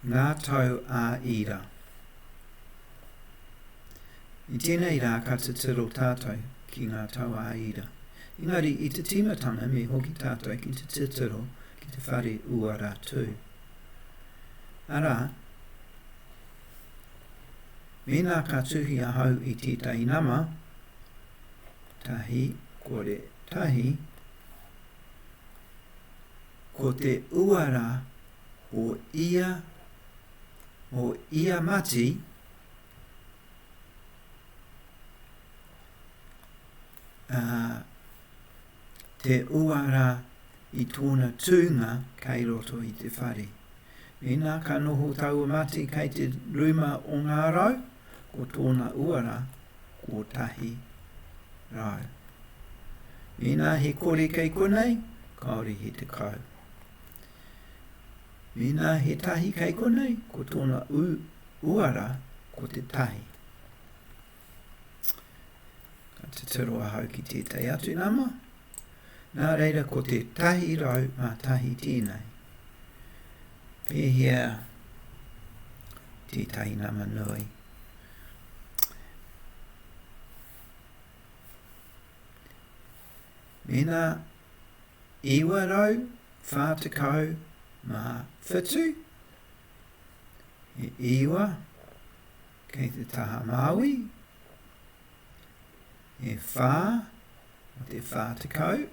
Ngā tau ā-ira. I tēnei rā ka titiro tātou ki ngā tau ā-ira. Engari i te tīmatanga me hoki tātou ki te titiro ki te whare Uaratū. Arā, mēnā ka tuhi ahau i tētahi nama, tahi, kore, tahi, ko te uara o ia, o ia mati, a, te uara i tōna tūnga kei roto i te whare. Mēnā ka noho taua mati kei te ruma o ngā rau, ko tōna uara kotahi rau. Mēnā he kore kei konei, kāore he tekau. Mēnā he tahi kei konei, ko tōna uara ko te tahi. Ka tuturo ahau ki tētai atu nama, nā reira ko te tahi rau mā tahi tēnei. Pēhea tētahi nama nui. Mēnā 947 he iwa kei te taha Māui, he whā o te 40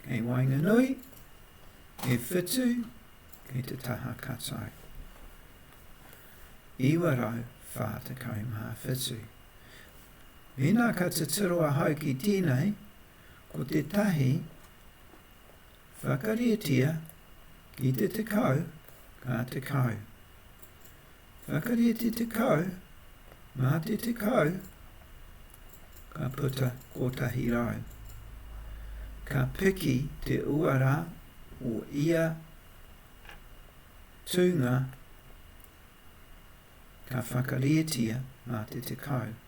kei waenganui, he whitu kei te taha katau. 947. Mēnā ka titiro ahau ki tēnei, Ko tētahi, whakarietia ki te tekau ka tekau. Whakarieti tekau mā te tekau ka puta kotahi rau. Ka piki te uara o ia tūnga ka whakarietia mā te tekau.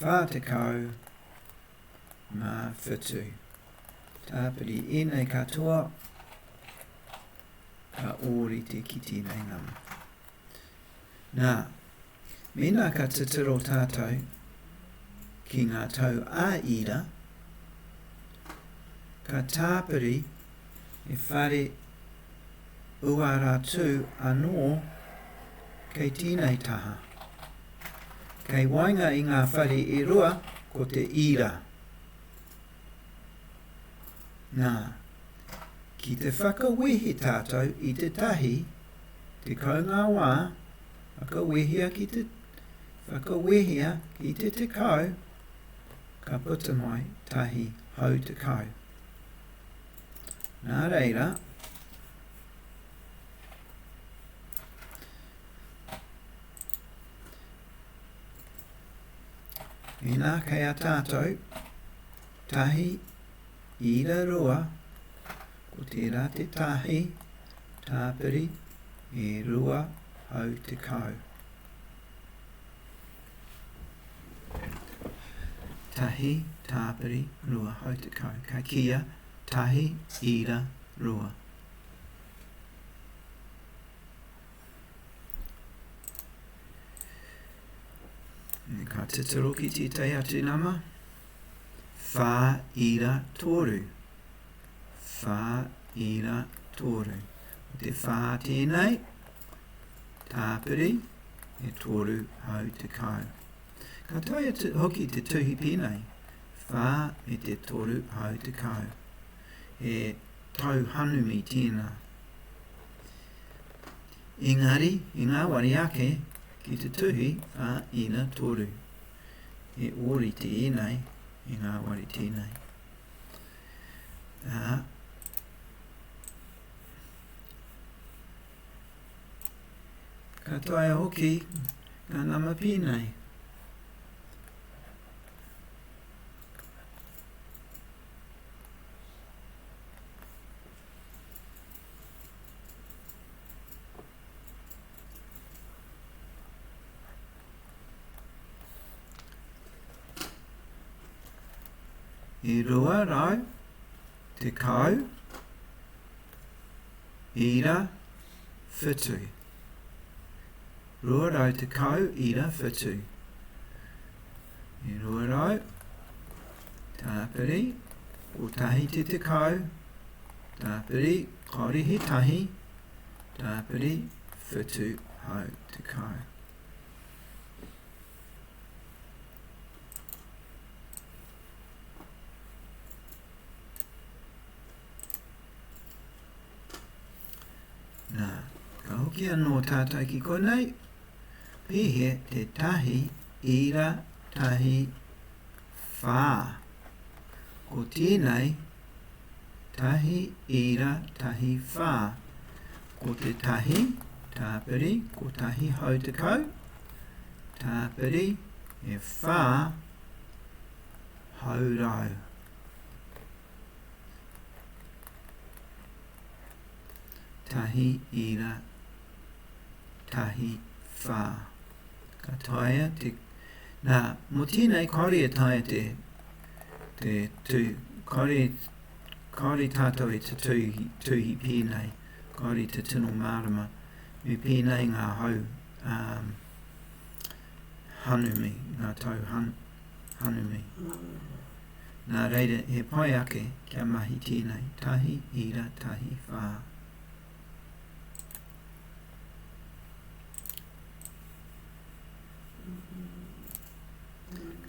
47. Tāpiri ēnei katoa ka ōrite ki tēnei nama. Nā, mēnā ka titiro tātou ki ngā tau ā-ira, ka tāpiri he whare uara tū anō kei tēnei taha. Kei waenga i ngā whare e rua ko te ira. Nā, ki te whakawehe tātou i te tahi, tekau ngā wā, whakawehia ki te, whakawehia ki te tekau, ka puta mai tahi hau tekau. Nā reira, Inā kei a tātou, tahi, ira rua, ko tērā te tahi, tāpiri, e rua hau te kau. Tahi, tāpiri, rua hau te kau. Ka kia, tahi, ira, rua. Ka titiro ki tētai atu nama. Whā ira tōru. Whā ira tōru. O te whā tēnei, tāpiri, e tōru hau te kau. Ka toi atu hoki te tuhi pēnei, whā me te tōru hau te kau. He tau hanumi tēnā. Engari, i ngāwari ake ki te tuhi a Ina Toru, he ōrite ēnei i ngāwari tēnei. Ā, ka taea hoki ngā nama pēnei. i rua rau te kau ira whitu. Rua rau tekau ira whitu. I rua rau, tāpiri, kotahi te tekau, tāpiri, korihi tahi, tāpiri, whitu hau tekau. Nā, ka hoki anō tātou ki konei, pihe te tahi ira tahi whā. Ko tēnei tahi ira tahi whā, ko te tahi tāpiri ko tahi hau te kau, tāpiri e whā hau rau. tahi ira, tahi whā. Ka taia te... Nā, mō tēnei, kāore e taia te, te tū, kāore, kāore tātou e te tūhi, tūhi pēnei, kāore te tino mārama, me pēnei ngā hau, um, hanumi, ngā tau han, hanumi. nā reira he pai ake kia mahi tīnai, tahi ira, tahi whā.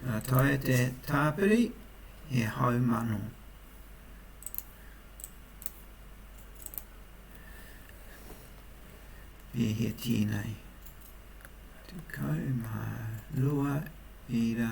Ka taea te tāpiri he haumano. E he tīnai. Tukau mā rua ira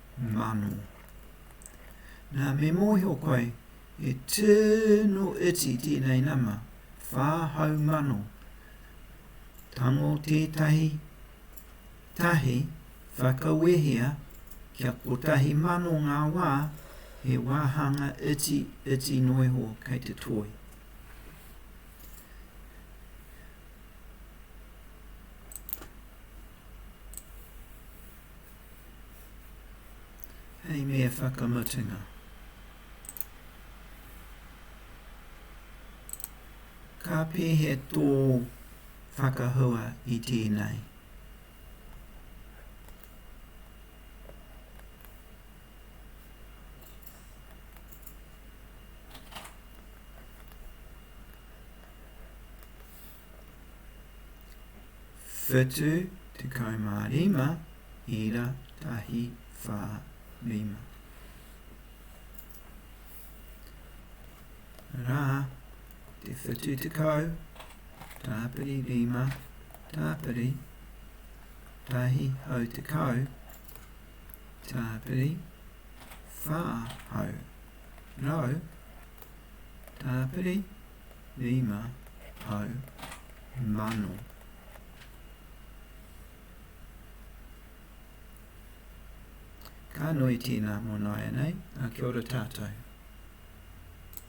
Mano. Na me mohio koe, he tino iti tenei nama, wha hau mano. Tango tetahi tahi whakawehea kia kotahi mano nga wa, he wahanga iti iti noiho kei te toi. Hei mea whakamatenga. Ka pēhea tō whakahua i tēnei? 75 ira tahi wha rima ra te 70 tapiri rima tapiri tahi hau te kau tapiri wha hau rau tapiri Rima hau mano. Ka nui tēnā mō nāianei, ā, kia ora tātou.